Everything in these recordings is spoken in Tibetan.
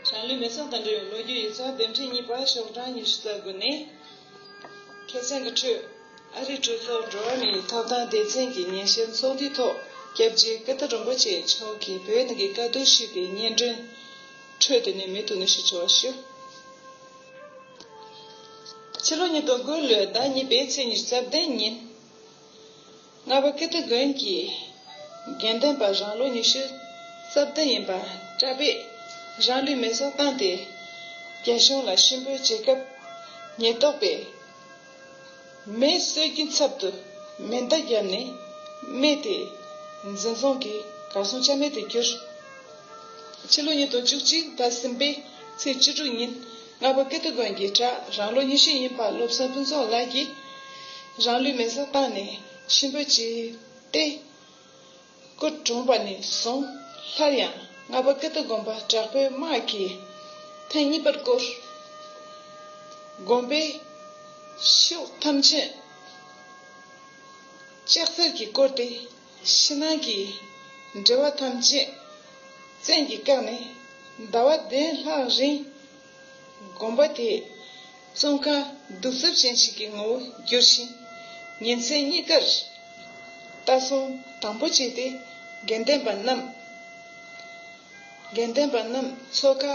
ཞང་ལུས་མེ་ཚོང་དང་འབྲེལ་བའི་ལོ་རྒྱུས་ཡིག་ཚགས་ལྡེབ་འཕྲེང་གཉིས་པ་ཤོག་གྲངས་ཉི་ཤུ་རྩ་དགུ་ནས། ཁེ་བཙན་གྱི་ཁྲོད་ཨ་རིའི་གྲོས་ཚོགས་འགྲོ་བ་མིའི་ཐོབ་ཐང་སྡེ་ཚན་གྱི་ཉིན་བཤད་ཚོགས་འདུའི་ཐོག་སྐྱབས་རྗེ་ཀི་ཏི་རིན་པོ་ཆེ་མཆོག་གིས་བོད་ནང་གི་དཀའ་སྡུག་ཞུས་པའི་སྙན་སྒྲོན་ཁྲོད་དུ་ནས་མི་དུ་ནས་ཞུ་ཆོག་ཞུ། ཕྱི་ལོ་ཉིས་སྟོང་དགུ་ལོའི་ཟླ་གཉིས་པའི་ཚེས་ཉེར་གསར་བདེ་ཉིན། རྔ་བ་ཀིརྟི་དགོན་གྱི་དགེ་འདུན་པ་རང་ལོ་ཉི་ཤུ་རྩ་བདུན་ཡིན་པ་གྲྭ་པས་རང་ལུས་མེ་སྲེག་བཏང་སྟེ་རྒྱ་གཞུང་ལ་ཤི་འབོད་བྱེད་སྐབས་ཉེན་རྟོག་པས་མེ་གསོད་ཀྱི་ཚབ་ཏུ་མེ་མདའ་བརྒྱབ་ནས་རྨས་ཏེ། འཛིན་བཟུང་གིས་གར་སོང་ཆ་མེད་དུ་གྱུར། ཕྱི་ལོ་ཉིས་སྟོང་བཅུ་གཅིག་ཟླ་གསུམ་པའི་ཚེས་བཅུ་དྲུག་ཉིན་རྔ་པ་ཀིརྟི་དགོན་གྱི་གྲྭ་རང་ལོ་ཉི་ཤུ་ཡིན་པ་བློ་བཟང་ཕུན་ཚོགས་ལགས་ཀྱིས་རང་ལུས་མེ་བསྲེགས་བཏང་ནས་ཤི་འཕོས་བྱས་ཏེ། སྐུ་གྲོངས་པ་ནས་བཟུང་སླར་ཡང་རྔ་པ་ཀི་ཏི་དགོན་པ་དྲག་པོའི་དམག་གིས་ཐེངས་གཉིས་པར་བསྐོར། དགོན་པའི་ཕྱོགས་ཐམས་ཅད་ལྕགས་མཚེར་གྱིས་བསྐོར་ཏེ་ཕྱི་ནང་གི་འབྲེལ་བ་ཐམས་ཅད་བཙན་གྱིས་བཀག་ནས་ཟླ་བ་བདུན་ལྷག་རིང། དགོན་པ་དེས་ཙོང་ཁ་གདུགས་རྩུབ་ཅན་ཞིག་གི་ངོ་བོ་བསྒྱུར་ཞིང། ཉིན་མཚན་གཉིས་ཀར་ལྟ་སྲུང་དང་པོ་བྱས་ཏེ་དགེ་ལྡན་པ་རྣམས། དགེ་ལྡན་པ་རྣམས་ཚོ་ཁ་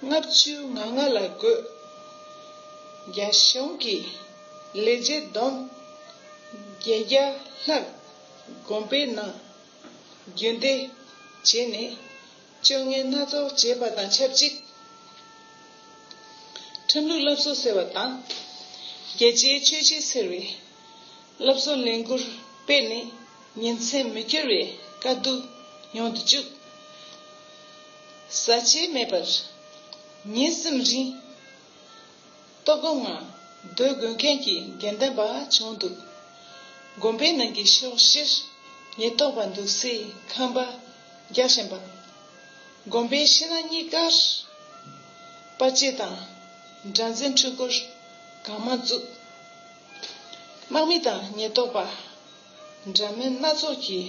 ལྔ་བཅུའི་ང་ལྔ་ལ་བགོས། རྒྱ་གཞུང་གི་ལས་བྱེད་བསྡོམས། བརྒྱད་བརྒྱ་ལྷག་དགོན་པའི་ནང་རྒྱུན་སྡེ་བྱས་ནས། སྤྱོད་ངན་སྣ་ཚོགས་བྱེད་པ་དང་ཆབས་ཅིག་ཁྲིམས་ལུགས་བསླབ་གསོ་ཟེར་བ་དང། རྒྱལ་གཅེས་ཆོས་གཅེས་ཟེར་བའི་བསླབ་གསོ་ལས་འགུལ་སྤེལ་ནས་ཉིན་མཚན་མི་སྐྱོ་བའི་དཀའ་སྡུག་མྱོང་དུ་བཅུག། ཟ་བྱེད་མེད་པར་ཉིན་གསུམ་རིང། ལྟོ་སྒོ་ང། འདོད་དགོས་མཁན་གྱི་དགེ་ལྡན་པ་བྱུང་འདུག། དགོན་པའི་ནང་གི་ཕྱོགས་བཞིར་ཉེན་རྟོག་པ་འདུག་སའི་ཁང་པ་རྒྱག་བཞིན་པ། དགོན་པའི་ཕྱི་ནང་གཉིས་ཀར་དཔའ་སྐྱེད་དང་དགྲ་འཛིན་འཕྲུལ་འཁོར་གང་མང་བཙུགས། དམག་མི་དང་ཉེན་རྟོག་པ་འདྲ་མིན་སྣ་ཚོགས་ཀྱིས་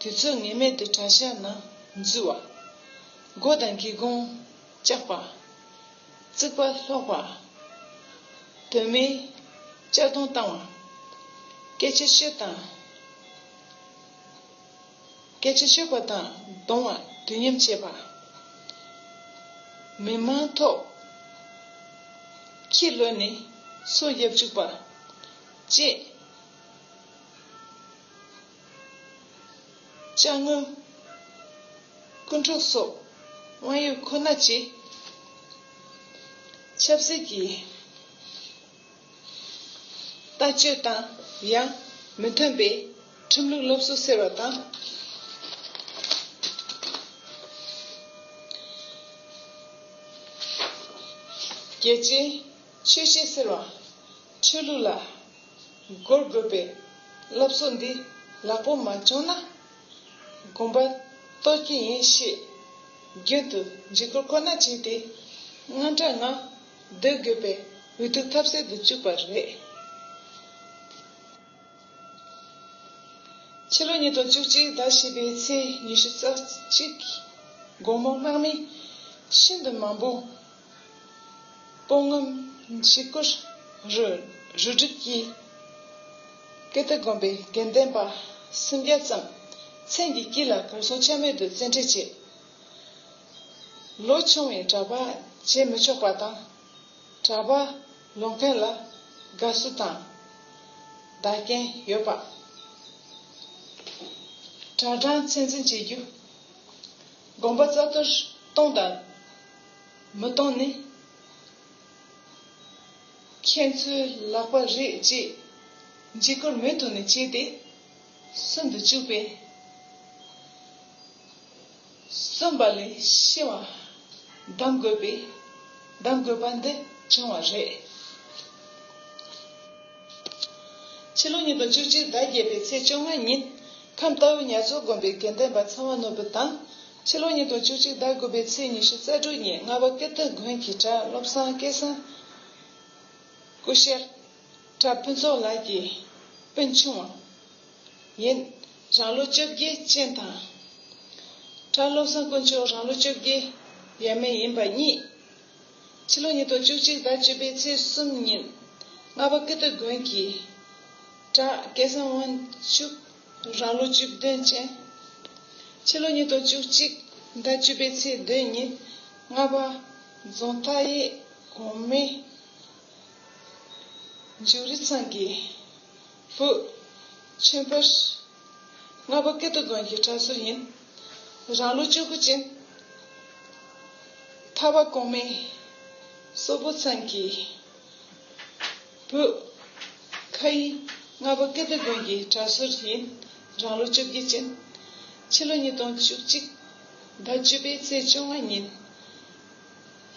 དུས་ཚོད་ངེས་མེད་དུ་གྲྭ་ཤག་ནང་འཛུལ་བ། སྒོ་དང་སྒེའུ་ཁུང་བཅག་པ། རྩིག་པ་སློག་པ། དོན་མེད་གཅར་རྡུང་བཏང་བ། སྐད་ཆ་བཤད་དང། སྐད་ཆ་བཤད་པ་དང་གདོང་བ་དུས་མཉམ་བྱེད་པ། མི་དམངས་ཐོག་ཁྱི་ལོ་ནི་སོ་གཡབ་བཅུག་པ། བཅས། ལྕགས་སྔོན། སྐུ་འཁྲུངས་སོགས་དབང་ཡོད་ཁོ་ན་བཅས། ཆབ་སྲིད་ཀྱི་ལྟ་སྤྱོད་དང་ཡང་མི་མཐུན་པའི་ཁྲིམས་ལུགས་སློབ་གསོ་ཟེར་བ་དང། རྒྱལ་སྤྱིའི་ཆོས་བཤད་ཟེར་བ། ཆོས་ལུགས་ལ། བསྒོར་དགོས་པའི་སློབ་གསོ་འདི་ལག་པོ་མ་བྱུང་ན། དགོན་པར་གཏོར་གྱི་ཡིན་ཞེས་རྒྱུན་དུ་འཇིགས་སྐུལ་ཁོ་ན་བྱས་ཏེ། དངངས་སྐྲག་ངང་སྡོད་དགོས་པའི་འུ་ཐུག་ཐབས་ཟད་དུ་བཅུག་པ་རེད། ཕྱི་ལོ་ཉིས་སྟོང་བཅུ་གཅིག་ཟླ་བཞི་པའི་ཚེས་ཉི་ཤུ་རྩ་གཅིག་དགོང་མོ་དམག་མི་ཤིན་ཏུ་མང་པོ། སྤོང་ངམ་འཆི་ཁར་རུ་སྒྲིག་གིས། སྐད་དོད་དགོན་པའི་དགེ་ལྡན་པ་སུམ་བརྒྱ་ཙམ་མཚན་གྱི་དཀྱིལ་ལ་གར་སོང་ཆ་མེད་དུ་བཙན་འཁྲིད་བྱས། ལོ་ཆུང་བའི་གྲྭ་པ་བྱེད་མི་ཆོག་པ་དང། གྲྭ་པ་ལོག་མཁན་ལ་དགའ་བསུ་དང་བདག་རྐྱེན་ཡོད་པ། གྲྭ་གྲངས་ཚད་འཛིན་བྱེད་རྒྱུ། དགོན་པ་རྩ་གཏོར་གཏོང་དང། མི་སྟོང་ནི། ཁྱེད་ཚོའི་ལག་པ་རེད་ཅེས་འཇིགས་སྐུལ་མུ་མཐུད་ནས་བྱས་ཏེ། སུན་དུ་བཅུག་པས། སུན་པ་ལས་ཤི་བ་གདམ་དགོས་པས་གདམ་དགོས་པ་འདི་བྱུང་བ་རེད། ཕྱི་ལོ་ཉིས་སྟོང་བཅུ་གཅིག་ཟླ་བརྒྱད་པའི་ཚེས་བཅོ་ལྔ་ཉིན། ཁམས་རྟའུ་ཉག་མཚོ་དགོན་པའི་དགེ་ལྡན་པ་ཚང་བ་ནོར་བུ་དང། ཕྱི་ལོ་ཉིས་སྟོང་བཅུ་གཅིག་ཟླ་དགུ་པའི་ཚེས་ཉི་ཤུ་རྩ་དྲུག་ཉིན་རྔ་པ་ཀིརྟི་དགོན་གྱི་གྲྭ་བློ་བཟང་སྐལ་བཟང། སྐུ་གཤེགས། གྲྭ་ཕུན་ཚོགས་ལགས་ཀྱི་སྤུན་ཆུང། ཡིན། རང་ལོ་བཅོ་བརྒྱད་ཅན་དང། གྲྭ་བློ་བཟང་དཀོན་མཆོག་རང་ལོ་བཅོ་བརྒྱད་ཡས་མས་ཡིན་པ་གཉིས། ཕྱི་ལོ་ཉིས་སྟོང་བཅུ་གཅིག་ཟླ་བཅུ་པའི་ཚེས་གསུམ་ཉིན་རྔ་པ་ཀིརྟི་དགོན་གྱི་གྲྭ་སྐལ་བཟང་དབང་ཕྱུག། རང་ལོ་བཅུ་བདུན་ཅན། ཕྱི་ལོ་ཉིས་སྟོང་བཅུ་གཅིག་ཟླ་བཅུ་པའི་ཚེས་བདུན་ཉིན་རྔ་པ་རྫོང་མཐའ་ཡས་གོང་མའི་མཇུག་རི་ཚང་གི་བུ་ཆོན་པོ། རྔ་པ་སྐེ་རྡོ་རྫོང་གི་གྲྭ་ཟུར་ཡིན། རང་ལོ་བཅུ་དགུ་ཅན། མཐའ་བ་གོང་མའི་སོག་པོ་ཚང་གི། བོད། ཁ་ཡི། རྔ་པ་ཀིརྟི་དགོན་གྱི་གྲྭ་ཟུར་ཡིན། རང་ལོ་བཅོ་བརྒྱད་ཅན། ཕྱི་ལོ་ཉིས་སྟོང་བཅུ་གཅིག། ཟླ་བཅུ་པའི་ཚེས་བཅོ་ལྔ་ཉིན།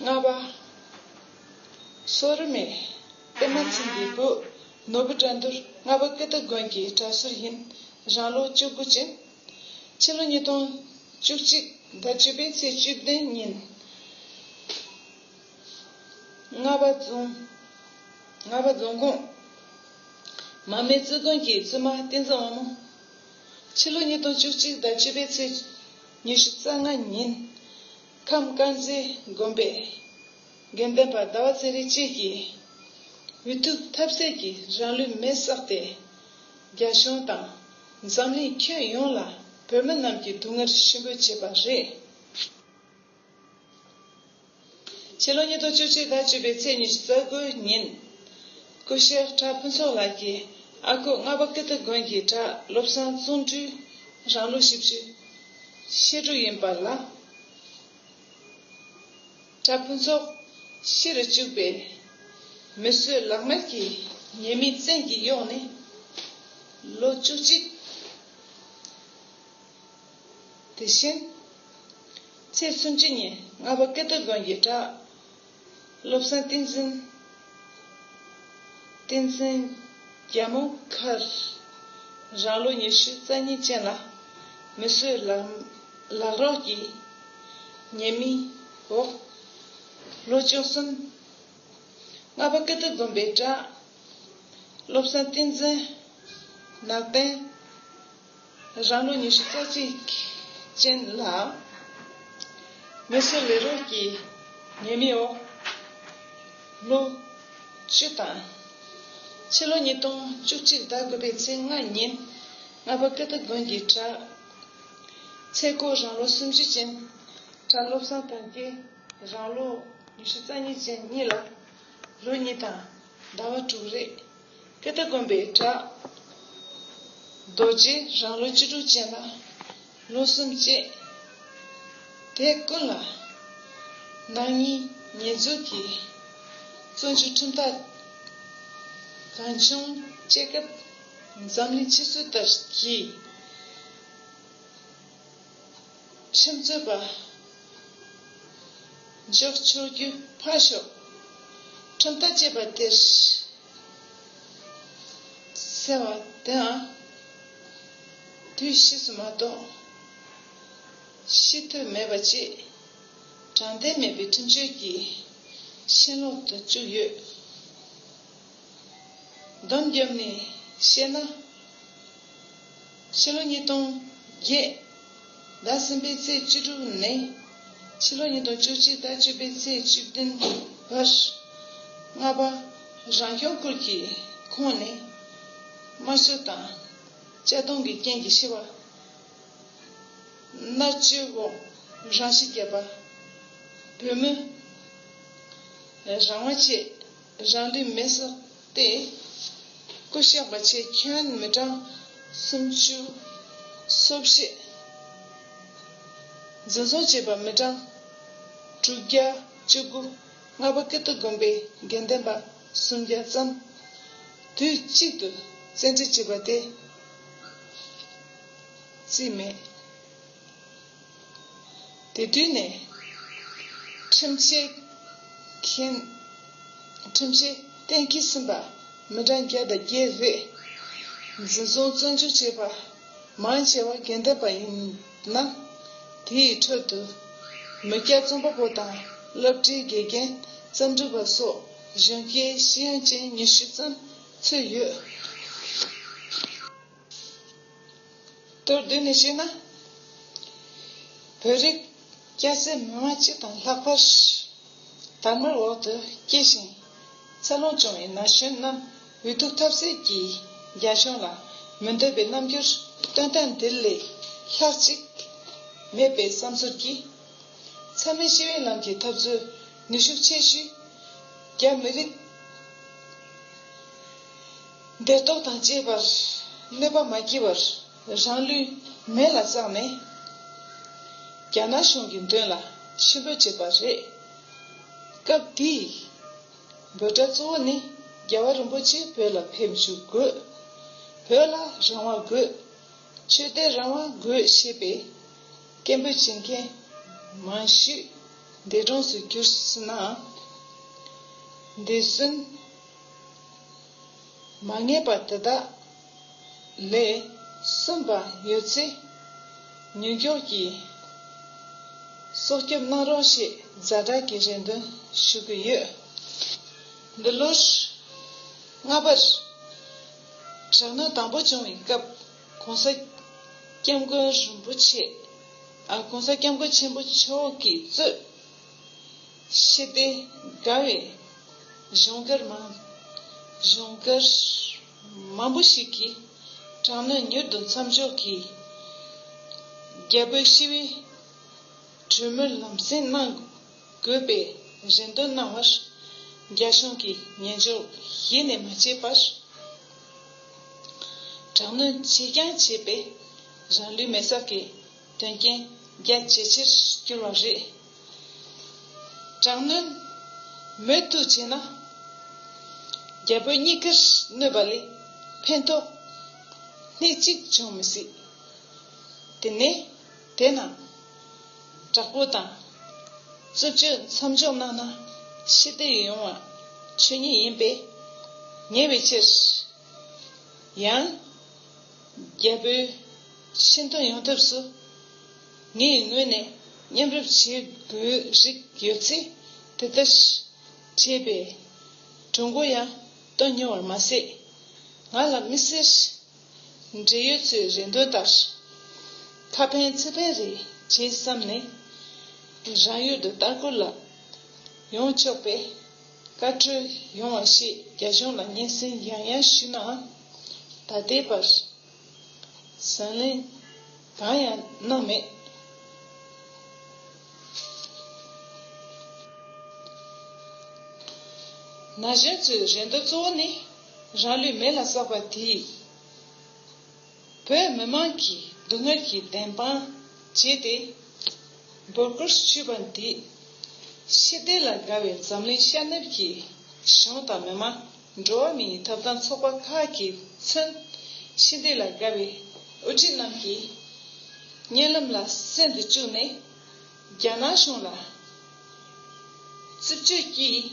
རྔ་པ། སོ་རི་མས། ཨེ་མ་ཚིག་འདི་བོད། ནོར་བུ་དགྲ་འདུལ་རྔ་པ་ཀིརྟི་དགོན་གྱི་གྲྭ་ཟུར་ཡིན། རང་ལོ་བཅུ་དགུ་ཅན། ཕྱི་ལོ་ཉིས་སྟོང་བཅུ་གཅིག་ཟླ་བཅུ་པའི་ཚེས་བཅུ་བདུན་ཉིན། རྔ་བ་རྫོང། རྔ་བ་རྫོང་ཁོངས། མ་སྨད་རྩེ་དགོན་གྱི་བཙུན་མ་བསྟན་འཛིན་དབང་མོ། ཕྱི་ལོ་ཉིས་སྟོང་བཅུ་གཅིག་ཟླ་བཅུ་པའི་ཚེས་ཉི་ཤུ་རྩ་ལྔ་ཉིན། ཁམས་དཀར་མཛེས་དགོན་པའི་དགེ་འདུན་པ་ཟླ་བ་ཚེ་རིང་བཅས་ཀྱིས། འུ་ཐུག་ཐབས་ཟད་ཀྱི་རང་ལུས་མེར་བསྲེགས་ཏེ། རྒྱ་གཞུང་དང་འཛམ་གླིང་ཁྱོན་ཡོངས་ལ་བོད་མི་རྣམས་ཀྱི་སྡུག་བསྔལ་ཞི་འབོད་བྱས་པ་རེད། ཕྱི་ལོ་ཉིས་སྟོང་བཅུ་གཅིག་ཟླ་བཅུ་པའི་ཚེས་ཉི་ཤུ་རྩ་དགུའི་ཉིན། སྐུ་ཞབས་གྲྭ་ཕུན་ཚོགས་ལགས་ཀྱིས་ཨ་ཁུ་རྔ་པ་ཀི་ཏི་དགོན་གྱི་གྲྭ་སློབ་བཟང་བཙོན་འགྲུལ་རང་ལོ་བཞི་བཅུ་ཤེས་དྲུག་ཡིན་པ་ལ། གྲྭ་ཕུན་ཚོགས་ཤི་རུ་བཅུག་པས། མི་གསོད་ལག་དམར་གྱི་ཉེས་མིང་བཙན་གྱིས་གཡོགས་ནས་ལོ་བཅུ་གཅིག། དེ་བཞིན། ཚེས་སུམ་ཅུ་ཉིན་རྔ་པ་ཀིརྟི་དགོན་གྱི་གྲྭ་སློབ་བསམ་གཏན་བཞིན་བསྟན་འཛིན་རྒྱལ་མོ་མཁར་རང་ལོ་ཉི་ཤུ་རྩ་གཉིས་ཅན་ལ་མི་གསོད་ལག་རོགས་ཀྱི་ཉེས་མིང་འོག་ལོ་བཅུ་གསུམ་རྔ་པ་ཀིརྟི་དགོན་པའི་གྲྭ་སློབ་བསམ་བསྟན་འཛིན་ནག་བསྟན། རང་ལོ་ཉི་ཤུ་རྩ་གཅིག་ཅན་ལ། མི་གསོད་ལས་རོགས་ཀྱི་ཉེས་མིང་འོག་ལོ་བཅུ་དང། ཕྱི་ལོ་ཉིས་སྟོང་བཅུ་གཅིག་ཟླ་དགུ་པའི་ཚེས་ལྔ་ཉིན་རྔ་པ་ཀི་ཏི་དགོན་གྱི་གྲྭ་ཚེ་སྒོ་རང་ལོ་སུམ་ཅུ་ཅན། གྲྭ་བློ་བཟང་དོན་སྐྱེ་རང་ལོ་ཉི་ཤུ་རྩ་གཉིས་ཅན་གཉིས་ལ་ལོ་གཉིས་དང་ཟླ་བ་དྲུག་རེ་ཀི་རྟ་བསྒོམས་པས་དྲག། རྡོ་རྗེ་རང་ལུས་སྤྱི་དྲུག་ཅན་ལ། ལུས་གསུམ་བསྐྱེད། དེ་ཀུན་ལ། ནང་གཉིས་ཉེས་འཛུགས་ཀྱི། བཙོན་བཅུད་ཁྲིམས་ཐག། གང་བྱུང་བཅད། སྐབས་འཛམ་གླིང་ཕྱི་སྲོལ་ལྟར་གྱིས། ཁྲིམས་རྩོད་པ། འཇོག་ཆོག་རྒྱུ་ཕར་ཞོག་ཁྲིམས་ལྟ་ཅེས་པ་དེར་ཟེར་བ་དེའང་དུས་ཕྱིས་སུ་མ་གཏོགས་ཤེས་འདོད་མེད་པ་ཅིག་དྲང་བདེན་མེད་པའི་ཁྲིམས་སྤྱོད་ཀྱི་ཤན་ལོག་ཏུ་བཅུག་ཡོད། བསྡོམས་བརྒྱབ་ནས་བཤད་ན། ཕྱི་ལོ་ཉིས་སྟོང་བརྒྱད་ཟླ་གསུམ་པའི་ཚེས་བཅུ་དྲུག་ནས་ཕྱི་ལོ་ཉིས་སྟོང་བཅུ་གཅིག་ཟླ་བཅུ་པའི་ཚེས་བཅུ་བདུན་བར། རྔ་པ་རང་སྐྱོང་ཁུལ་གྱི་ཁོངས་ནས་དམར་གསོད་དང་གཅར་རྡུང་གི་རྐྱེན་གྱིས་ཤི་བ། མནར་གཅོད་འོག་རང་ཤི་བརྒྱབ་པ། བོད་མི་རང་དབང་ཆེད་རང་ལུས་མེ་བསྲེགས། ཏེ། སྐུ་གཤེགས་པ་ཆེ་ཁྱོད་མི་གྲངས་སུམ་ཅུ། གསོ་བྱེད་འཛིན་བཟུང་བྱེད་པ་མི་གྲངས་དྲུག་བརྒྱ་བཅུ་དགུ། ལྔ་པ་ཀིརྟི་དགོན་པའི་དགེ་ལྡན་པ་སུམ་བརྒྱ་ཙམ་དུས་གཅིག་ཏུ་བཙན་ཁྲིད་བྱས་པ་དེ་རྩིས་མེད། དེ་དུས་ནས། ཁྲིམས་བཤད་མཁན། ཁྲིམས་བཤད་གཏན་འཁེལ་ཟིན་པ་མི་གྲངས་བརྒྱ་དང་བརྒྱད་རེད། འཛིན་བཟུང་བཙོན་འཇུག་བྱས་པ་མང་ཆེ་བ་རྒན་བསྟན་པ་ཡིན་ན། དེའི་ཁྲོད་དུ། མི་སྐྱ་རྩོམ་པ་པོ་དང་སློབ་གྲྭའི་དགེ་རྒན་བརྩམས་སྒྲུང་པ་སོགས་གཞོན་སྐྱེས་ཤེས་ཡོན་ཅན་ཉི་ཤུ་ཙམ་ཚུད་ཡོད། མདོར་བསྡུས་ནས་བཤད་ན། བོད་རིགས་སྐྱ་སེར་མི་མང་སྤྱི་དང་ལྷག་པར། དར་དམར་འོག་ཏུ་སྐྱེས་ཤིང་འཚར་ལོངས་བྱུང་བའི་ན་གཞོན་རྣམས་འུ་ཐུག་ཐབས་ཟད་ཀྱིས་རྒྱ་གཞུང་ལ་མི་འདོད་པའི་རྣམ་འགྱུར་སྟོན་སྟངས་འདི་ལས་ལྷག་ཅིག་མེད་པའི་བསམ་ཚུར་གྱིས། ཚང་མས་ཤི་བའི་ལམ་གྱི་འཐབ་རྩོད་ནུས་ཤུགས་ཆེ་ཤོས་རྒྱ་མི་རིགས། འདོད་སྟོབས་དང་བཅས་པར་གནོད་པ་མ་བགྱིས་བར་རང་ལུས་མེ་ལ་བཙགས་ནས་རྒྱ་ནག་གཞུང་གི་མདུན་ལ་ཕྱིར་འབུད་བྱས་པ་རེད། སྐབས་དེའི་འབོད་སྒྲ་གཙོ་བོ་ནི་རྒྱལ་བ་རིན་པོ་ཆེ་བོད་ལ་ཕེབས་འཇུག་དགོས། བོད་ལ་རང་དབང་དགོས། ཆོས་དད་རང་དབང་དགོས་ཞེས་པའི་སྐད་འབོད་བྱེད་མཁན་མང་ཤོས་འདས་གྲོངས་སུ་གྱུར་སྲིད་ནའང་འདས་གསོན། མ་ངེས་པ་དེ་དག་ལས་གསུམ་པ་ཡོད་ཚེ་ཉོན་འགྱོགས་ཀྱིས་སྲོག་སྐྱོབ་གནང་རོགས་ཞེས་གཟའ་སྒྲག་གི་རེ་འདུན་ཞུ་གི་ཡོད། འདི་ལོར་རྔ་པར་དྲག་གནོན་དང་པོ་བྱུང་བའི་སྐབས ྋགོང་ས ྋསྐྱབས་མགོན་རིན་པོ་ཆེས ྋགོང་ས ྋསྐྱབས་མགོན་ཆེན་པོ་མཆོག་གིས་གཙོས། ཞི་བདེ་དགའ་བའི་གཞུང་སྒེར་མང། གཞུང་སྒེར་མང་པོ་ཞིག་གིས་དྲང་ནུས་མྱུར་དུ་མཚམས་འཇོག་གིས། རྒྱལ་པོའི་ཞི་བའི་གྲོས་མོལ་ལམ་སེང་གནང་དགོས་པའི་རེ་འདུན་གནང་བར། རྒྱ་གཞུང་གིས་ཉན་འཇོག་གཞི་ནས་མ་བྱས་པར། དྲང་ནུས་ཆེ་རྐྱང་བྱས་པས་རང་ལུས་མེ་བསྲགས་ཀྱི། དོན་རྐྱེན་རྒྱ་ཇེ་ཆེར་གྱུར་བ་རེད། དྲག་གནོན་མུ་མཐུད་བྱས་ན། རྒྱ་བོད་གཉིས་ཀར་གནོད་པ་ལས་ཕན་ཐོགས་སྣེ་གཅིག་འབྱུང་མི་སྲིད། དེ་ནས་དེ་ན་དྲག་པོ་དང་རྩུབ་སྤྱོད་མཚམས་འཇོག་གནང་ན་ཤི་བདེ་ཡོང་བ་ཆོས་ཉིད་ཡིན་པས། ཉེ་བའི་ཕྱིར། ཡང་རྒྱ་བོད། ཤིན་ཏུ་ཡོང་ཐབས་སུ་ངའི་ངོས་ནས་མཉམ་རུབ་བྱེད་དགོས་རིགས་ཡོད་ཚེ་དེ་ལྟར་བྱས་པས་གྲུང་མགོ་ཡང་གཏོང་མྱོང་བར་མ་ཟད། ང་ལ་མི་སེར་འབྲེལ་ཡོད་ཚོའི་རེ་འདུན་ལྟར་ཁ་ཕན་ཚིག་ཕན་རེ་བྱེད་བསམ་ནས་རང་ཡུལ་དུ་བསྟར་འགོད་ལ་ཡོང་ཆོག་པའི་བཀའ་འཁྲོལ་ཡོང་བ་ཞེས་རྒྱ་གཞུང་ལ་སྙན་སེང་ཡང་ཡང་ཞུས་ནའང་ད་ལྟའི་བར། ཟང་ལེན་གང་ཡང་གནང་མེད། ན་གཞོན་ཚོའི་རེ་འདོད་གཙོ་བོ་ནི་རང་ལུས་མེ་ལ་བསྲེགས་པ་དེས་བོད་མི་མང་གི་སྡུག་བསྔལ་གྱི་བདེན་དཔང་བྱས་ཏེ། འབོད་སྐུལ་ཞུས་པ་འདིས། ཤེས་ལྡན་ལ་དགའ་བའི་འཛམ་གླིང་ཤར་ནུབ་ཀྱི་གཞུང་དང་མི་མང། འགྲོ་བ་མིའི་ཐོབ་ཐང་ཚོགས་པ་ཁག་གིས་མཚོན། ཤིང་རྟའི་ལ་དགའ་བའི་དབུ་ཁྲིད་རྣམས་ཀྱིས། བརྙན་ལམ་ལ་གསེར་འདི་བཅུག་ནས། རྒྱ་ནག་གཞུང་ལ་རྩིབས་གཅོད་ཀྱིས།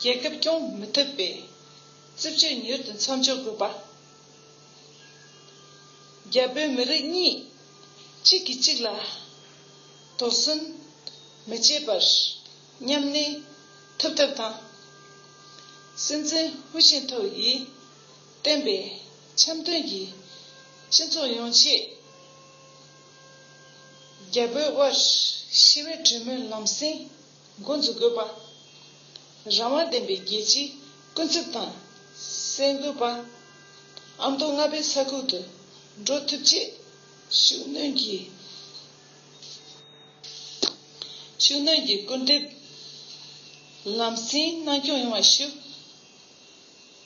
རྒྱལ་ཁབ་སྐྱོང་མི་ཐུབ་པའི་རྩིབས་གཅོད་མྱུར་དུ་མཚམས་འཇོག་དགོས་པ། རྒྱ་བོད་མི་རིགས་གཉིས་གཅིག་གིས་གཅིག་ལ་དོགས་ཟོན་མི་བྱེད་པར། ཉམས་ནི། ཐུབ་ཐབས་དང། སེམས་ཅན་བྷུ་ཤིང་ཐོ་ཡིས། བསྟན་པའི་འཆམ་མཐུན་གྱི། སྤྱི་མཚུངས་ཡོང་ཆེད། རྒྱལ་པོའི་དབར། ཤི་བའི་གྲོས་མོལ་ལམ་སེང། འགོ་འཛུགས་དགོས་པ། རང་དབང་ལྡན་པའི་རྒྱལ་སྤྱིའི་སྐུ་ཚབ་དང། གསལ་འགོད་པ། ཨ་མདོ་རྔ་པའི་ས་ཁུལ་དུ། འགྲོ་ཐུབ་ཆེད། ཤུགས་སྣོན་གྱིས། ཤུགས་སྣོན་གྱིས་སྐུལ་འདེབས་ལམ་སེང་གནང་སྐྱོང་ཡོང་བར་ཞུ།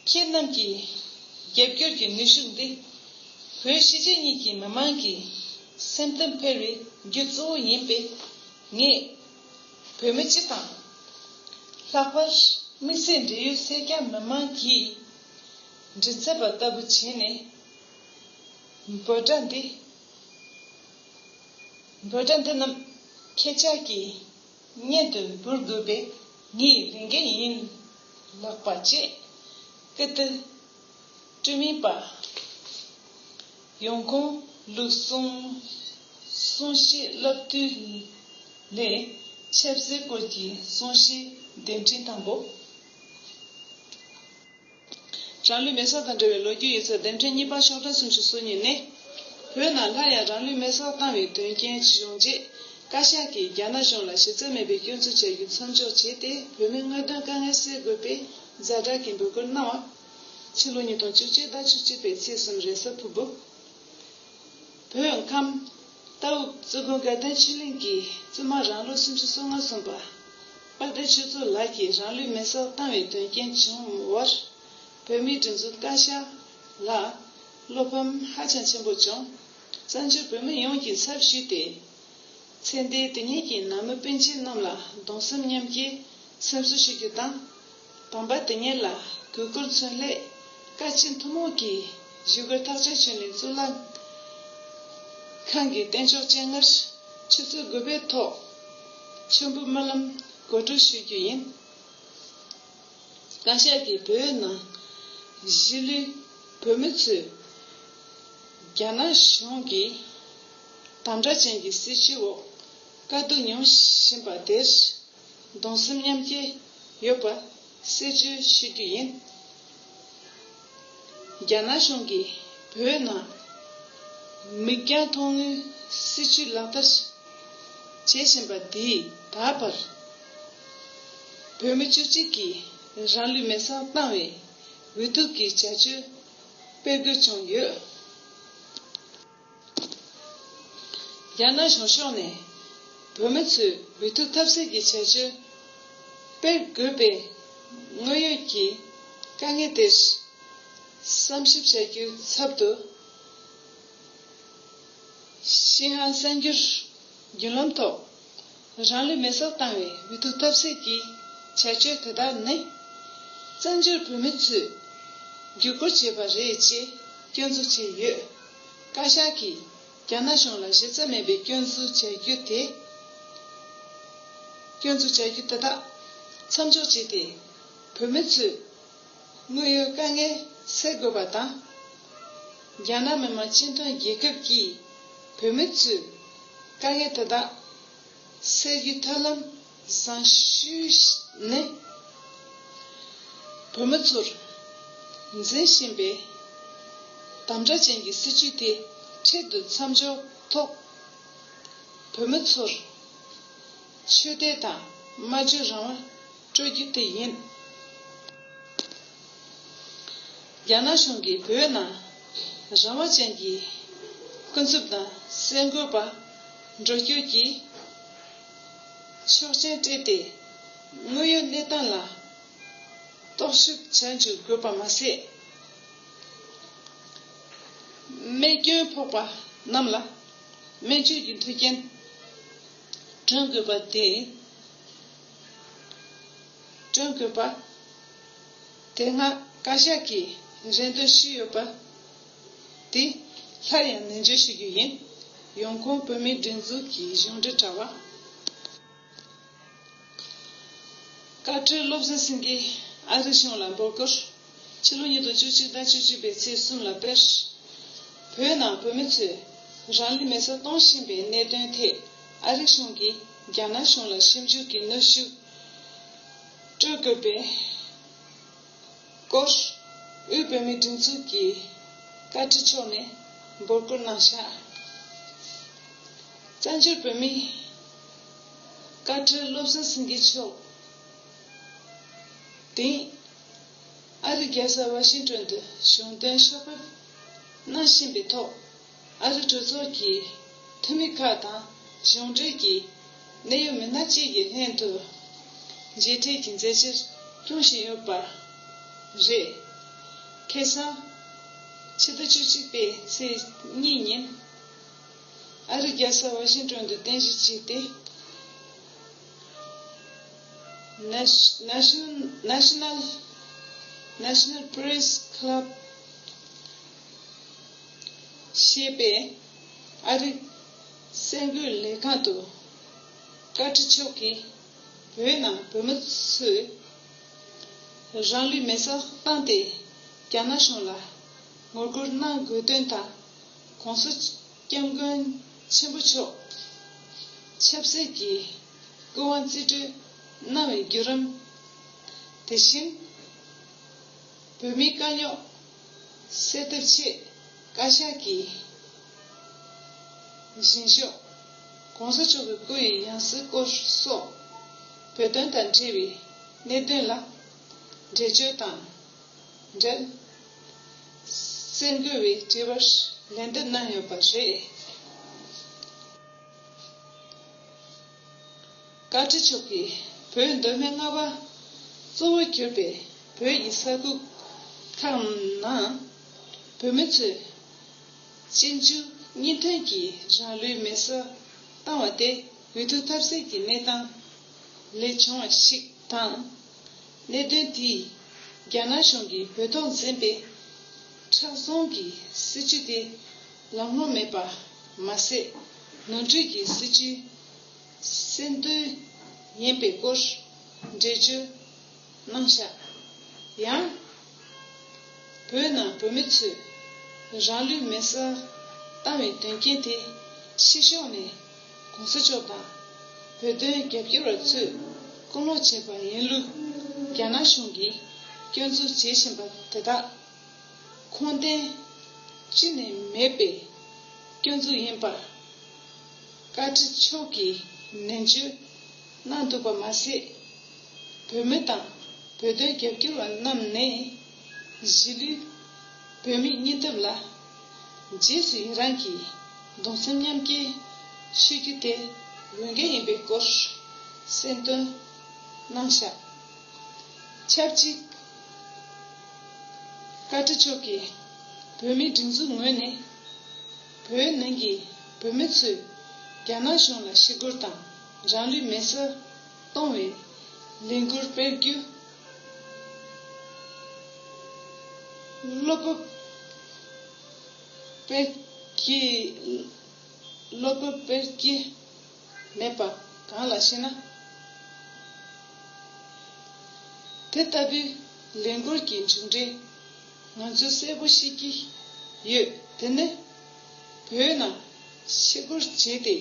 ཁྱེད་རྣམས་ཀྱི་རྒྱབ་སྐྱོར་གྱི་ནུས་ཤུགས་འདི་བོད་གཞིས་བྱེས་གཉིས་ཀྱི་མི་དམངས་ཀྱི་སེམས་གཏམ་འཕེལ་བའི་རྒྱུ་གཙོ་བོ་ཡིན་པས་ངས་བོད་མི་སྤྱི་དང། ལྷག་པར་དམིགས་བསལ་འབྲེལ་ཡོད་སེར་སྐྱ་མི་དམངས་ཀྱིས་མགྲིན་ཚབ་པ་ལྟ་བུ་བྱས་ནས་འབོད་སྒྲ་འདི་འབོད་སྒྲ་འདི་རྣམས་ཁྱེད་ཅག་གིས་སྙན་དུ་འབུལ་དགོས་པས་ངའི་ལས་འགན་ཡིན་ལགས་པ་བཅས་ཀི་ཏི་སྤྲུལ་མིང་པ་ཡོངས་གང་ལུགས་གསུང་གསུང་བཤད་བསླབ་བཏུས་ལས་ཆབ་སྲིད་སྐོར་གྱི་གསུང་བཤད་གདན་འདྲེན་དང་པོ། རང་ལུས་མེ་སོགས་དང་འབྲེལ་བའི་ལོ་རྒྱུས་ཡིག་ཚགས་ལྡེབ་འཕྲེང་གཉིས་པ་ཤོག་གྲངས་སུམ་ཅུ་སོ་གཉིས་ནི། བོད་ནང་སླར་ཡང་རང་ལུས་མེ་སོགས་བཏང་བའི་དོན་རྐྱེན་ཇི་བྱུང་རྗེས། བཀའ་ཤག་གིས་རྒྱ་ནག་གཞུང་ལ་གཞི་རྩ་མེད་པའི་སྐྱོན་འཛུགས་བྱ་རྒྱུ་མཚམས་འཇོག་བྱས་ཏེ་བོད་མིའི་དངོས་དོན་དཀའ་ངལ་སེལ་དགོས་པའི་གཟའ་སྒྲག་གི་འབོད་སྐུལ་གནང་བ། ཕྱི་ལོ་ཉིས་སྟོང་བཅུ་གཅིག་ཟླ་བཅུ་གཅིག་པའི་ཚེས་གསུམ་རེས་གཟའ་ཕུར་བུ། བོད་ཁམས། རྟ་འུག་གཙོས་དགོན་དགའ་ལྡན་ཕྱི་གླིང་གི་བཙུན་མ་རང་ལོ་སུམ་ཅུ་སོ་ལྔ་སོན་པ། དཔལ་ལྡན་ཆོས་མཚོ་ལགས་ཀྱིས་རང་ལུས་མེ་སྲེག་བཏང་བའི་དོན་རྐྱེན་བྱུང་བར། བོད་མིའི་སྒྲིག་འཛུགས་བཀའ་ཤག་ལ་བློ་ཕམ་ཧ་ཅང་ཆེན་པོ་བྱུང། བཙན་བྱོལ་བོད་མི་ཡོངས་ཀྱིས་ཚབ་ཞུས་ཏེ། ཚེ་འདས་དེ་ཉིད་ཀྱི་ནང་མི་སྤུན་མཆེད་རྣམས་ལ་གདུང་སེམས་མཉམ་སྐྱེའི་སེམས་གསོ་ཞུ་རྒྱུ་དང། དམ་པ་དེ་ཉིད་ལ་གུས་བཀུར་མཚོན་སླད་བཀའ་སྤྱི་ཐུན་མོང་གིས་གཞིས་བཀོད་ཐག་གཅོད་བྱས་ནས་གཙུག་ལག་ཁང་གི་རྟེན་མཆོག་སྤྱན་སྔར་ཆུ་ཚོད་དགུ་པའི་ཐོག་མཆོད་འབུལ་སྨོན་ལམ་གོ་སྒྲིག་ཞུ་རྒྱུ་ཡིན། བཀའ་ཤག་གིས་བོད་ནང་གཞིས་ལུས་བོད་མི་ཚོས་རྒྱ་ནག་གཞུང་གི་དམ་དྲག་ཅན་གྱི་སྲིད་བྱུས་འོག་དཀའ་སྡུག་མྱོང་བཞིན་པ་དེར། གདུང་སེམས་མཉམ་སྐྱེ་ཡོད་པ་གསལ་བརྗོད་ཞུ་རྒྱུ་ཡིན། རྒྱ་ནག་གཞུང་གིས་བོད་ནང་མིག་རྒྱང་མཐོང་ངུའི་སྲིད་བྱུས་ལག་བསྟར་བྱེད་བཞིན་པ་འདིས་ད་བར་བོད་མི་བཅུ་གཅིག་གིས་རང་ལུས་མེ་བསྲགས་བཏང་བའི་འུ་ཐུག་གི་བྱ་སྤྱོད་སྤེལ་དགོས་བྱུང་ཡོད། རྒྱ་ནག་གཞུང་ཕྱོགས་ནས་བོད་མི་ཚོའི་འུ་ཐུག་ཐབས་ཟད་ཀྱི་བྱ་སྤྱོད་སྤེལ་དགོས་པའི་དངོས་ཡོད་ཀྱི་དཀའ་ངལ་དེར་བསམ་ཞིབ་བྱ་རྒྱུའི་ཚབ་ཏུ། ཤིན་ཧྭ་གསར་འགྱུར་བརྒྱུད་ལམ་ཐོག་རང་ལུས་མེ་སྲེག་བཏང་བའི་འོས་བསྡུ་ཐབས་ཟད་ཀྱི་བྱ་སྤྱོད་དེ་དག་ནི། བཙན་བྱོལ་བོད་མི་ཚོས་བརྒྱུད་སྐུར་བྱས་པ་རེད་ཅེས་སྐྱོན་འཛུགས་བྱས་ཡོད། བཀའ་ཤག་གིས་རྒྱ་ནག་གཞུང་ལ་གཞི་རྩ་མེད་པའི་སྐྱོན་འཛུགས་བྱ་རྒྱུ་དེ། སྐྱོན་འཛུགས་བྱ་རྒྱུ་དེ་དག་མཚམས་འཇོག་བྱས་ཏེ། བོད་མི་ཚོས། དངོས་ཡོད་དཀའ་ངལ་སེལ་དགོས་པ་དང། རྒྱ་ནག་མི་དམངས་སྤྱི་མཐུན་རྒྱལ་ཁབ་ཀྱིས་བོད་མི་ཚོའི་དཀའ་ངལ་དེ་དག་སེལ་རྒྱུའི་ཐབས་ལམ་བཟང་ཤོས་ནི། བོད་མི་ཚོར་འཛིན་བཞིན་པའི་དམ་དྲག་ཅན་གྱི་སྲིད་བྱུས་དེ་འཕྲལ་དུ་མཚམས་འཇོག་ཐོག་བོད་མི་ཚོར་ཆོས་དད་དང་སྨྲ་བརྗོད་རང་དབང། སྤྲོད་རྒྱུ་དེ་ཡིན། རྒྱ་ནག་གཞུང་གིས་བོད་ནང་རང་དབང་ཅན་གྱི་ཀུན་རྫོབ་དང་གསལ་འགོད་པ་འགྲོ་སྐྱོད་ཀྱི་ཆོག་མཆན་སྤྲད་དེ་དངོས་ཡོད་གནས་སྟངས་ལ་རྟོག་ཞིབ་བྱ་འཇུག་དགོས་པ་མ་ཟད། རྨས་སྐྱོན་ཕོག་པ་རྣམས་ལ་སྨན་བཅོས་ཀྱི་མཐུན་རྐྱེན། བསྐྲུན་དགོས་པ་དེ་བསྐྲུན་དགོས་པ། དེ་སྔ་བཀའ་ཤག་གིས་རེ་འདུན་ཞུས་ཡོད་པ་དེ་སླར་ཡང་ནན་བརྗོད་ཞུ་རྒྱུ་ཡིན། ཡོང་ཁུངས་བོད་མིའི་སྒྲིག་འཛུགས་ཀྱི་གཞུང་འབྲེལ་དྲ་བ། བཀའ་ཁྲི་བློ་བཟང་སེང་གེས་ཨ་རིའི་གཞུང་ལ་འབོད་སྐུལ། ཕྱི་ལོ་ཉིས་སྟོང་བཅུ་གཅིག་ཟླ་བཅུ་གཅིག་པའི་ཚེས་གསུམ་ལ་དཔེར་ན་བོད་ནང་བོད་མི་ཚོས་རང་ལུས་མེ་སྲེག་གཏོང་བཞིན་པའི་གནད་དོན་ཐད་ཨ་རིའི་གཞུང་གིས་རྒྱ་ནག་གཞུང་ལ་ཞིབ་འཇུག་གི་གནོད་ཤུགས་སྤྲོད་དགོས་པའི་སྐོར་དབུས་བོད་མིའི་སྒྲིག་འཛུགས་ཀྱི་བཀའ་ཁྲི་མཆོག་ནས་འབོད་སྐུལ་གནང་ཤག། བཙན་བྱོལ་བོད་མིའི། བཀའ་ཁྲི་བློ་བཟང་སེང་གེ་མཆོག་དེང་ཨ་རི་རྒྱལ་ས་ཝཱ་ཤིང་ཀྲོན་དུ་གཞུང་དོན་ཕྱོགས་ཕེབས་གནང་བཞིན་པའི་ཐོག་ཨ་རི་གྲོས་ཚོགས་ཀྱི་འཐུས་མི་ཁག་དང་གཞུང་འབྲེལ་གྱི་གནད་ཡོད་མི་སྣ་བཅས་ཀྱི་ལྷན་དུ་མཇལ་འཕྲད་ཀྱི་མཛད་ཕྱིར་སྐྱོང་བཞིན་ཡོད་པ་རེད། ཁེ་སང། ཕྱི་ཟླ་བཅུ་གཅིག་པའི་ཚེས་གཉིས་ཉིན། ཨ་རིག་རྒྱལ་ས་ཝ་ཤིང་ཀྲོན་དུ་རྟེན་གཞི་བྱས་ཏེ། National National Press Club། ཞེས་པའི་ཨ་རིག་གསར་འགོད་ལས་ཁང་དུ། བཀའ་ཁྲི་མཆོག་གིས་བོད་ནང་བོད་མི་ཚོས་རང་ལུས་མེ་སྲེག་བཏང་སྟེ་རྒྱ་ནག་གཞུང་ལ་ངོ་རྒོལ་གནང་དགོས་དོན་དང། གོང་སོ་སྐྱབས་མགོན་ཆེན་པོ་མཆོག། ཆབ་སྲིད་ཀྱི་སྐུ་དབང་རྩིས་སྤྲོད་གནང་བའི་བརྒྱུད་རམ། དེ་བཞིན། བོད་མིའི་དཀའ་རྙོག་སེལ་ཐབས་ཆེད་བཀའ་ཤག་གི་བཞེངས་ཤོག། གོང་ས་མཆོག་གི་སྐུ་ཡི་ཡང་སྲིད་སྐོར་སོགས་བོད་དོན་དང་འབྲེལ་བའི་གནད་དོན་ལ་འགྲེལ་བརྗོད་དང། འགྲན་རྩོད་འགུལ་བའི་དྲི་བར་ལན་འདེབས་གནང་ཡོད་པ་རེད། བཀའ་ཁྲི་མཆོག་གིས་བོད་མདོ་སྨད་རྔ་བ་གཙོ་བོར་གྱུར་པའི་བོད་ཀྱི་ས་ཁུལ་ཁག་ནང་བོད་མི་ཚོས་གཅིག་མཇུག་གཉིས་མཐུད་ཀྱིས་རང་ལུས་མེ་སྲ་བཏང་བ་དེ་འུ་ཐུག་ཐབས་ཟད་ཀྱི་གནས་སྟངས་ལས་བྱུང་བ་ཞིག་དང། གནད་དོན་དེས་རྒྱ་ནག་གཞུང་གིས་བོད་ཐོག་འཛིན་པའི་ཁྲག་སྲུང་གི་སྲིད་བྱུས་དེ་ལམ་ལྷོང་མེད་པ་མ་ཟད། ནོར་འཁྲུལ་གྱི་སྲིད་བྱུས་གསེར་མདུད་ཡིན་པའི་སྐོར་འགྲེལ་བརྗོད་གནང་ཤག། ཡང། བོད་ནང་བོད་མི་ཚོས་རང་ལུས་མེར་བསྲེགས་བཏང་བའི་དོན་རྐྱེན་དེ་ཕྱི་ཕྱོགས་ནས་གོང་ས་མཆོག་དང་བོད་དོན་རྒྱབ་སྐྱོར་བ་ཚོས་བསྐུར་སློང་བྱས་པ་ཡིན་ལུགས་རྒྱ་ནག་གཞུང་གིས་སྐྱོན་འཛུགས་བྱེད་བཞིན་པ་དེ་དག་ཁུངས་ལྡན་ཅི་ནས་མེད་པའི་སྐྱོན་འཛུགས་ཡིན་པར་བཀའ་ཁྲི་མཆོག་གིས་ནན་བརྗོད་གནང་འདུག་པ་མ་ཟད། བོད་མི་དང་བོད་དོན་རྒྱབ་སྐྱོར་བ་རྣམས་ནས། གཞིས་ལུས་བོད་མིའི་སྙིང་སྟོབས་ལ། རྗེས་སུ་ཡི་རངས་ཀྱིས་གདུང་སེམས་མཉམ་སྐྱེའི་ཤོད་རྒྱུ་དེ་འོས་འགན་ཡིན་པའི་སྐོར་གསལ་འདོན་གནང་བཞག་ཆབས་ཅིག་བཀའ་ཁྲི་མཆོག་གིས་བོད་མིའི་སྒྲིག་འཛུགས་ངོས་ནས་བོད་ནང་གི་བོད་མི་ཚོས་རྒྱ་ནག་གཞུང་ལ་ཞི་རྒོལ་དང། རང་རིག་མེད་སར་གཏོང་བའི་ལས་འགུལ་སྤེལ་རྒྱུ། བློ་སྤོབས་སྤེལ་གྱི། བློ་སྤོབས་སྤེལ་གྱི་མེད་པ་གང་ལ་ཞེ་ན། དེ་ལྟ་བུའི་ལས་འགུལ་གྱི་མཇུག་འབྲས་ང་ཚོས་གསལ་པོ་ཤེས་ཀྱི་ཡོད་དེ་ནི། བོད་ནང་ཕྱི་སྒུར་བྱས་ཏེ།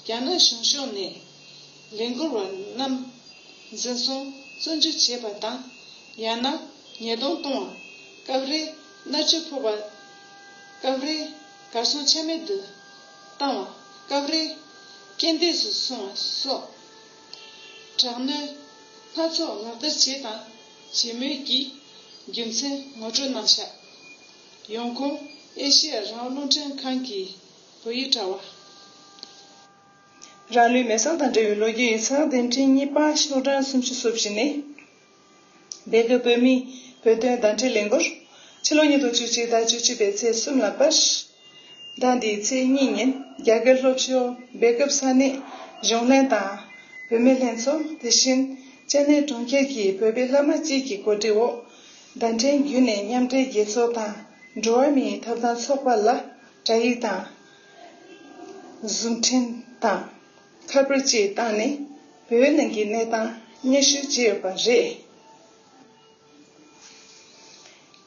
རྒྱ་ནག་གཞུང་ཕྱོགས་ནས་ལས་འཁུར་བ་རྣམས་འཛིན་བཟུང་བཙོན་འཇུག་བྱེད་པ་དང་ཡང་ན་ཉེས་རྡུང་གཏོང་བ། སྐབས་རེ་མནར་གཅོད་ཕོག་པ། སྐབས་རེ་གར་སོང་ཆ་མེད་དུ་བཏང་བ། སྐབས་རེ་རྐྱེན་འདས་སུ་སོང་བ་སོགས་དྲག་གནོན་སྣ་ཚོགས་ལག་བསྟར་བྱས་དང་བྱེད་མུས་ཀྱི་རྒྱུ་མཚན་ངོ་སྤྲོད་གནང་ཤག། ཡོང་ཁུངས་ཨེ་ཤི་ཡ་རང་བློ་འདྲེན་ཁང་གིས། དོ་ཡི་དྲ་བ། རང་ལུས་མེ་སྲོག་དང་འབྲེལ་བའི་ལོ་རྒྱུས་ཡིག་ཚང་འདི་འཕྲིན་གཉིས་པ་ཤོག་གྲངས་སུམ་ཅུ་སོ་བཞི་ནི། སྡེ་དགེ་བོད་མིའི་བོད་དོན་བདམས་ཁྲིད་ལས་འགུར། ཕྱི་ལོ་ཉིས་སྟོང་བཅུ་གཅིག་ཟླ་བཅུ་གཅིག་པའི་ཚེས་གསུམ་ལ་པར། ཟླ་འདིའི་ཚེས་གཉིས་ཉིན་རྒྱ་སྒེར་སློབ་ཕྱོགས་སྦེལ་སྐབས་ས་གནས་གཞུང་ལྷན་དང། བུད་མེད་ལྷན་ཚོགས་དེ་བཞིན་ཅན་ནེ་གྲོང་ཁྱེར་གྱི་བོད་པའི་བླ་མ་གཅིག་གི་གོ་སྒྲིག་འོག། བརྡ་འཕྲིན་བརྒྱུད་ནས་མཉམ་འབྲེལ་རྒྱལ་ཚོགས་དང་འགྲོ་བ་མིའི་ཐོབ་ཐང་ཚོགས་པ་ལ། སྒྲ་ཡིག་དང། གཟུགས་འཕྲིན་དང། ཁ་པར་བཅས་བཏང་ནས་བོད་ནང་གི་གནས་སྟངས་སྙན་ཞུ་བྱས་ཡོད་པ་རེད།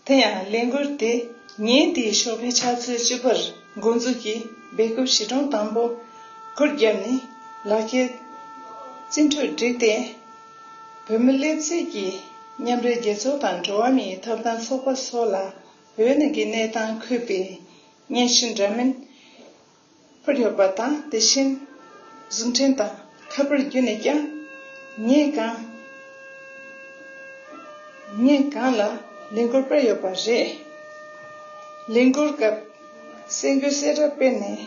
དེ་ཡང་ལས་འགུལ་དེ་ཉིན་དེའི་ཞོགས་པའི་ཆ་ཚོད་བཅུ་པར་འགོ་འཛུགས་ཀྱིས་སྦེལ་ཀོབ་གཞིས་གྲོང་དང་པོ་སྐོར་བརྒྱབ་ནས་ལག་ཁྱེར་རྩིས་འཕྲུལ་བསྒྲིགས་ཏེ། བོད་མི་སླེབས་ཚེ་ཀྱི་མཉམ་འབྲེལ་རྒྱལ་ཚོགས་དང་འགྲོ་བ་མིའི་ཐོབ་ཐང་ཚོགས་པ་སོགས་ལ་བོད་ནང་གི་གནས་སྟངས་འཁོད་པའི་བརྙན་ཞིབ་འདྲ་མིན་ཕུལ་ཡོད་པ་དང་དེ་བཞིན་གཟིགས་འཕྲིན་དང་ཁ་པར་བརྒྱུད་ནས་ཀྱང་ཉིན་གང་ཉིན་གང་ལ་ལས་འགུལ་སྤེལ་ཡོད་པ་རེད། ལས་འགུལ་སྐབས་གསལ་འགོད་གསལ་བསྒྲགས་སྤེལ་ནས་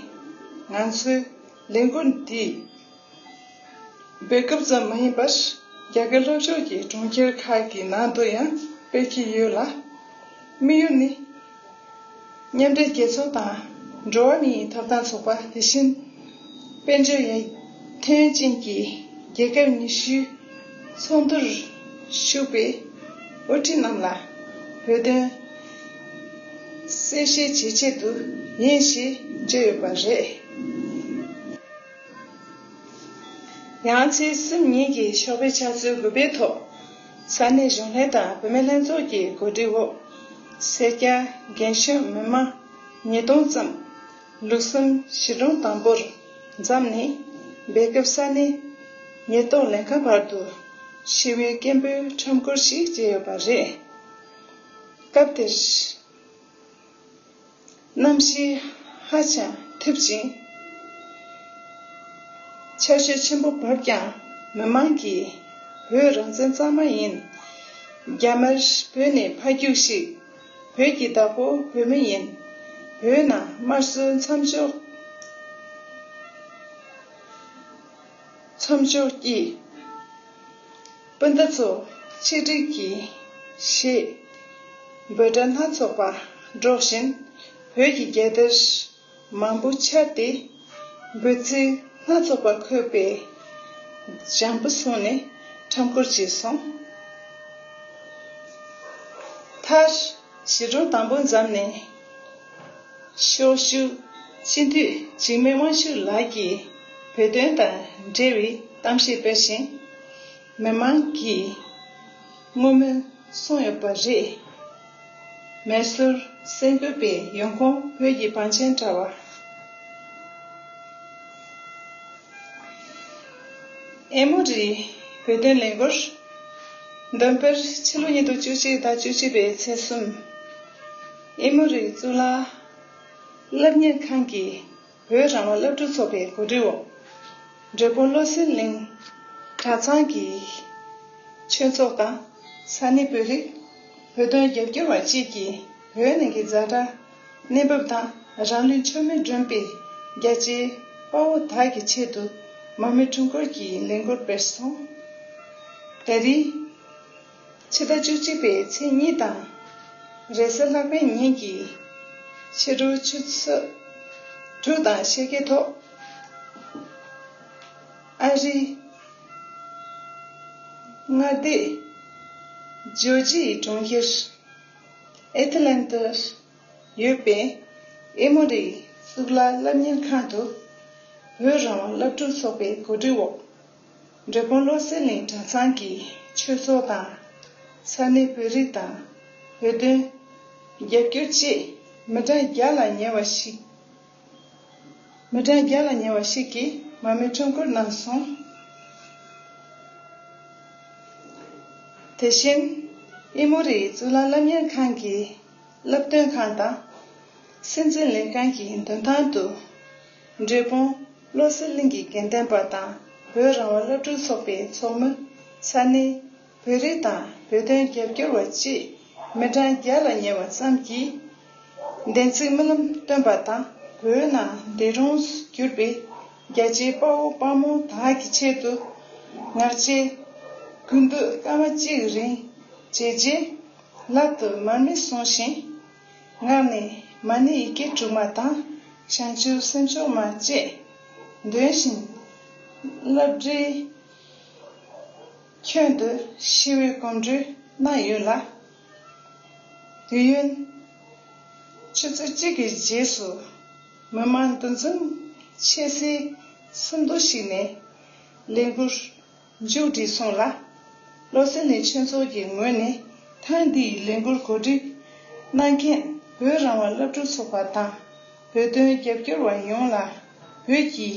ང་ཚོའི་ལས་འགུལ་འདི། སྤེལ་སྐབས་ཙམ་མ་ཡིན་པར་རྒྱ་གར་ལྷོ་ཕྱོགས་ཀྱི་གྲོང་ཁྱེར་ཁག་གི་ནང་དུ་ཡང་སྤེལ་གྱི་ཡོད་ལ། དམིགས་ཡུལ་ནི། མཉམ་འབྲེལ་རྒྱལ་ཚོགས་དང་འགྲོ་བ་མིའི་ཐོབ་ཐང་ཚོགས་པ་དེ་བཞིན་དཔལ་འབྱོར་ཡར་ཐོན་ཅན་གྱི་རྒྱལ་ཁབ་ཉི་ཤུའི་ཚོགས་འདུར་ཞུགས་པའི་དབུ་ཁྲིད་རྣམས་ལ་བོད་དོན་གསལ་བཤད་བྱེད་ཆེད་དུ་ཡིན་ཞེས་བརྗོད་ཡོད་པ་རེད། ཡང་རྩེ་གསུམ་གཉིས་ཀྱི་ཤོག་བུའི་ཕྱག་མཛོད་གུས་པས་ཐོབ། ས་གནས་གཞུང་ལྷན་དང་བུད་མེད་ལྷན་ཚོགས་ཀྱི་གོ་སྒྲིག་འོག་སེར་སྐྱ་རྒན་གཞོན་མི་དམངས་ཉིས་སྟོང་ཙམ། ལུག་གསུམ་གཞིས་གྲོང་དང་པོར་འཛམ་གླིང་སྦེལ་སྐབས་ས་གནས་ཉེན་རྟོག་ལས་ཁང་བར་དུ་ཤི་བོའི་སྐད་འབོད་ཁྲོམ་སྐོར་ཞིག་བྱས་ཡོད་པ་རེད། སྐབས་དེར། རྣམ་ཤེས་ཧ་ཅང་ཐེབས་ཅིང། ཆ་ཤས་ཆེན་པོ་བབས་ཀྱང་མི་མང་གིས་བོད་རང་བཙན་གཙང་མ་ཡིན། རྒྱ་དམར་བོད་ནས་ཕ་རྒྱུགས་ཤིག། བོད་ཀྱི་བདག་པོ་བོད་མི་ཡིན། བོད་ནང་དམར་གསོད་མཚམས་འཇོག། མཚམས་སྦྱོར་གྱིས། སྤུན་ཟླ་ཚོ་ཆིག་སྒྲིལ་གྱིས། ཞེས་འབོད་སྒྲ་སྣ་ཚོགས་པ་སྒྲོག་བཞིན་བོད་ཀྱི་རྒྱལ་དར་མང་པོ་འཕྱར་ཏེ། འབོད་ཚིག་སྣ་ཚོགས་པ་འཁོད་པའི་ལྗང་བུ་བཟུང་ནས་ཁྲམ་སྐོར་བྱས་སོང། མཐར། ཞི་ཁྲོ་དང་པོ་བརྫམས་ནས་ཤོག། སྤྱི་འཐུས་འཇིགས་མེད་དབང་ཕྱུག་ལགས་ཀྱིས་བོད་དོན་དང་འབྲེལ་བའི་གཏམ་བཤད་སྤེལ་བཞིན། མི་མང་གིས་བསྔོ་སྨོན་གསུངས་ཡོད་པ་རེད། མེ་སོར་སེང་གོད་པའི་ཡོང་ཁུངས་བོད་ཀྱི་བང་ཆེན་དྲ་བ། ཨེ་མོ་རི། བོད་དོན་ལས་འགུལ། འདོན་སྤེལ་ཕྱི་ལོ་ཉིས་སྟོང་བཅུ་གཅིག་དང་བཅུ་བཞི་པའི་ཚེས་གསུམ། ཨེ་མོ་རི་གཙུག་ལག་སློབ་གཉེར་ཁང་གི་བོད་རང་དབང་སློབ་ཕྲུག་ཚོགས་པའི་གོ་སྒྲིག་འོག་འབྲས་སྤུངས་བློ་གསལ་གླིང་གྲྭ་ཚང་གི་ཆོས་ཚོགས་དང་ས་གནས་བོད་རིགས་བོད་དོན་རྒྱབ་སྐྱོར་བ་བཅས་ཀྱིས་བོད་ནང་གི་རྫ་དྲ། གནས་བབ་དང་རང་ལུས་མཆོད་མེར་སྒྲོན་པའི་རྒྱལ་གཅེས་དཔའ་བོ་དག་གི་ཆེད་དུ་མར་མེ་འཁྲུངས་སྐོར་གྱི་ལས་འགུལ་སྤེལ་སོང། ད་རེས། ཕྱི་ཟླ་བཅུ་གཅིག་པའི་ཚེས་གཉིས་དང། རེས་གསལ་ལྷག་པའི་ཉིན་གྱི་ཕྱི་དྲོ་ཆུ་ཚོད་དྲུག་དང་ཕྱེད་ཀའི་ཐོག་ཨ་རིའི་མངའ་སྡེ་ཇོ་ཇི་ཡི་གྲོང་ཁྱེར། ཨེ་ཐི་ལན་དུ་ཡོད་པའི་ཨེ་མོ་རི་གཙུག་ལག་སློབ་གཉེར་ཁང་དུ་བོད་རང་དབང་སློབ་ཕྲུག་ཚོགས་པའི་གོ་སྒྲིག་འོག་འབྲས་སྤུངས་བློ་གསལ་གླིང་གྲྭ་ཚང་གི་ཆོས་ཚོགས་དང། ས་གནས་བོད་རིགས་དང་བོད་དོན། རྒྱ་བསྒྱུར་བཅས་མི་གྲངས་བརྒྱ་ལ་ཉེ་བ་ཞིག་མི་གྲངས་བརྒྱ་ལ་ཉེ་བ་ཞིག་གིས་མ་རྨོས་ཁྲིམས་བཀུར་གནང་སོང། དེ་བཞིན། དབྱིན་མོ་རི་ཡི་གཙུག་ལག་སློབ་གཉེར་ཁང་གི་བསླབ་སྟོན་ཁང་དང། སྲིད་འཛིན་ལིན་ཀན་གྱི་མདུན་ཐང་དུ། འབྲས་སྤུངས་བློ་གསལ་གླིང་གི་དགེ་ལྡན་པ་དང་བོད་རང་དབང་སློབ་ཕྲུག་ཚོགས་པའི་ཚོགས་མི་ས་ནི། བོད་རིགས་དང་བོད་དོན་རྒྱབ་སྐྱོར་བ་བཅས་མི་གྲངས་བརྒྱ་ལ་ཉེ་བ་ཙམ་གྱིས་བདེན་ཚིག་རྨི་ལམ་སྟོན་པ་དང་བོད་ནང་འདས་གྲོངས་སུ་གྱུར་པའི་རྒྱལ་གཅེས་དཔའ་བོ་དཔའ་མོ་དག་གི་ཆེད་དུ་ངག་བཅད། གུས་འདུད་སྐར་མ་གཅིག་རིང་བྱས་རྗེས་ལག་ཏུ་མར་མེ་བཟུང་ཞིང། ངག་ནས་མ་ཎི་ཡི་གེ་དྲུག་མ་དང་བྱང་ཆུབ་སེམས་མཆོག་མ་བཅས་འདོན་བཞིན་བསླབ་བསྒྲིལ། ཁྱོད་འདི་ཤི་བའི་གོམ་འགྲོས་གནང་ཡོད་ལ། དུས་ཡུན་ཆུ་ཚོད་གཅིག་གི་རྗེས་སུ་མི་མང་འདུ་འཛོམས་ཆེ་སའི་སིལ་མདོ་ཞིག་ནས་ལས་འགུལ་མཇུག་བསྒྲིལ་སོང་ལ། བློ་སེང་ནི་ཆོས་ཚོགས་ཀྱི་ངོས་ནས་ཐེངས་འདི་ཡི་ལས་འགུལ་གོ་སྒྲིག་གནང་མཁན་བོད་རང་དབང་བླ་སྤྲུལ་ཚོགས་པ་དང་བོད་དོན་རྒྱབ་སྐྱོར་བ་ཡོངས་ལ་བོད་ཀྱི་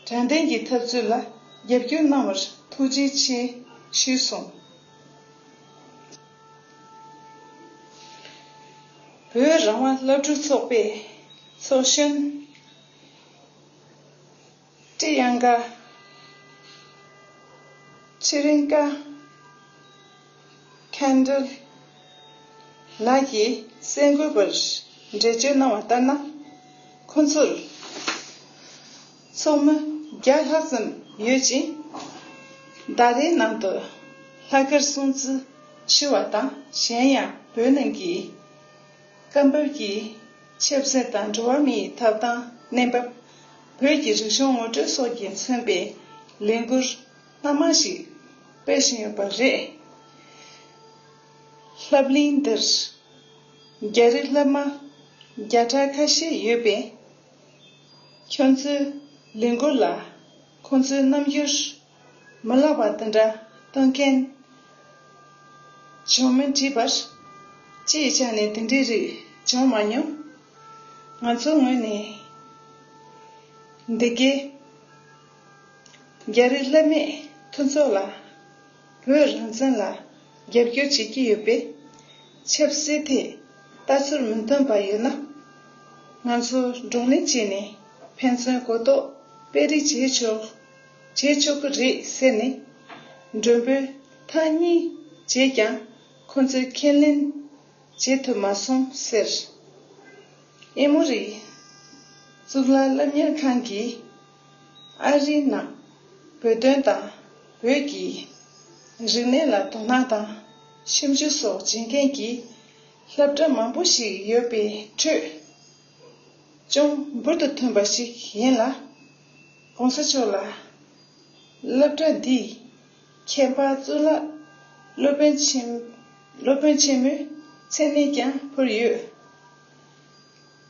དྲན་རྟེན་གྱི་ཐབས་ཚུལ་ལ་རྒྱབ་སྐྱོར་གནང་བར་ཐུགས་རྗེ་ཆེ་ཞུས་གསུངས། བོད་རང་དབང་བླ་སྤྲུལ་ཚོགས་པའི་ཚོགས་གཞོན་ཀྲི་དབྱངས་ཀ། Priyanka། Candle། ལགས་ཀྱིས་གསལ་འགོད་པར་འགྲེལ་བརྗོད་གནང་བ་ལྟར་ན། ཁོ་ཚོར་ཚོགས་མི་བརྒྱ་ལྷག་ཙམ་ཡོད་ཅིང། ཟླ་རེའི་ནང་དུ་ལྷག་དཀར་སྲུང་བརྩི་ཞུ་བ་དང་གཞན་ཡང་བོད་ནང་གི་སྐབས་བབ་ཀྱི་ཆབ་སྲིད་དང་འགྲོ་བ་མིའི་ཐོབ་ཐང་གནས་བབ། བོད་ཀྱི་རིག་གཞུང་ངོ་སྤྲོད་སོགས་ཀྱིས་མཚོན་པའི་ལས་འགུལ། སྣ་མང་ཞིག་སྤེལ་བཞིན་ཡོད་པ་རེད། ལྷབ་གླིང་འདིར་རྒྱ་རིགས་སློབ་མ་བརྒྱ་ཕྲག་ཁ་ཤས་ཡོད་པས། ཁྱོད་ཚོའི་ལས་འགུལ་ལ་ཁོང་ཚོའི་རྣམ་འགྱུར་མི་ལག་པ་དེ་འདྲ་སྟོན་མཁན་བྱུང་མིན་དྲིས་པར། ཅིའི་ཆ་ནས་དེ་འདྲའི་རིགས་བྱུང་མ་མྱོང། ང་ཚོའི་ངོས་ནས་འདི་གའི། རྒྱ་རིགས་བསླབ་མེད་མཐུན་ཚོགས་ལ། བོད་རང་བཙན་ལ་རྒྱབ་སྐྱོར་བྱེད་ཀྱི་ཡོད་པས། ཆབ་སྲིད་ཐད་ལྟ་ཚུར་མི་མཐུན་པ་ཡོད་ན། ང་ཚོ་བགྲོ་གླེང་བྱས་ནས་ཕན་ཚུན་གོ་རྟོགས་སྤེལ་རེས་བྱས་ཆོག་བྱས་ཆོག་གི་རེད་ཟེར་ནས། མགྲོན་པོས་ཐང་གཉིས་བྱས་ཀྱང་ཁོ་ཚོས་ཁས་ལེན་བྱེད་ཐུབ་མ་སོང་ཟེར། ཨེ་མོ་རི་གཙུག་ལག་སློབ་གཉེར་ཁང་གིས། ཨ་རིའི་ནང་བོད་དོན་དང་བོད་ཀྱི་རིག་གནས་ལ་དོ་སྣང་དང་ཞིབ་འཇུག་སོགས་བྱེད་མཁན་གྱི་ལྷ་བྲག་མང་པོ་ཞིག་ཡོད་པའི་ཁྲོད་ཅུང་འབུར་དུ་ཐོན་པ་ཞིག་ཡིན་ལ། གོང་ས་མཆོག་ལ་ལྷ་བྲག་འདིས་ཁྱད་འཕགས་གཙུག་ལག་སློབ་དཔོན་ཆེན་མོའི་མཚན་གནས་ཀྱང་ཕུལ་ཡོད།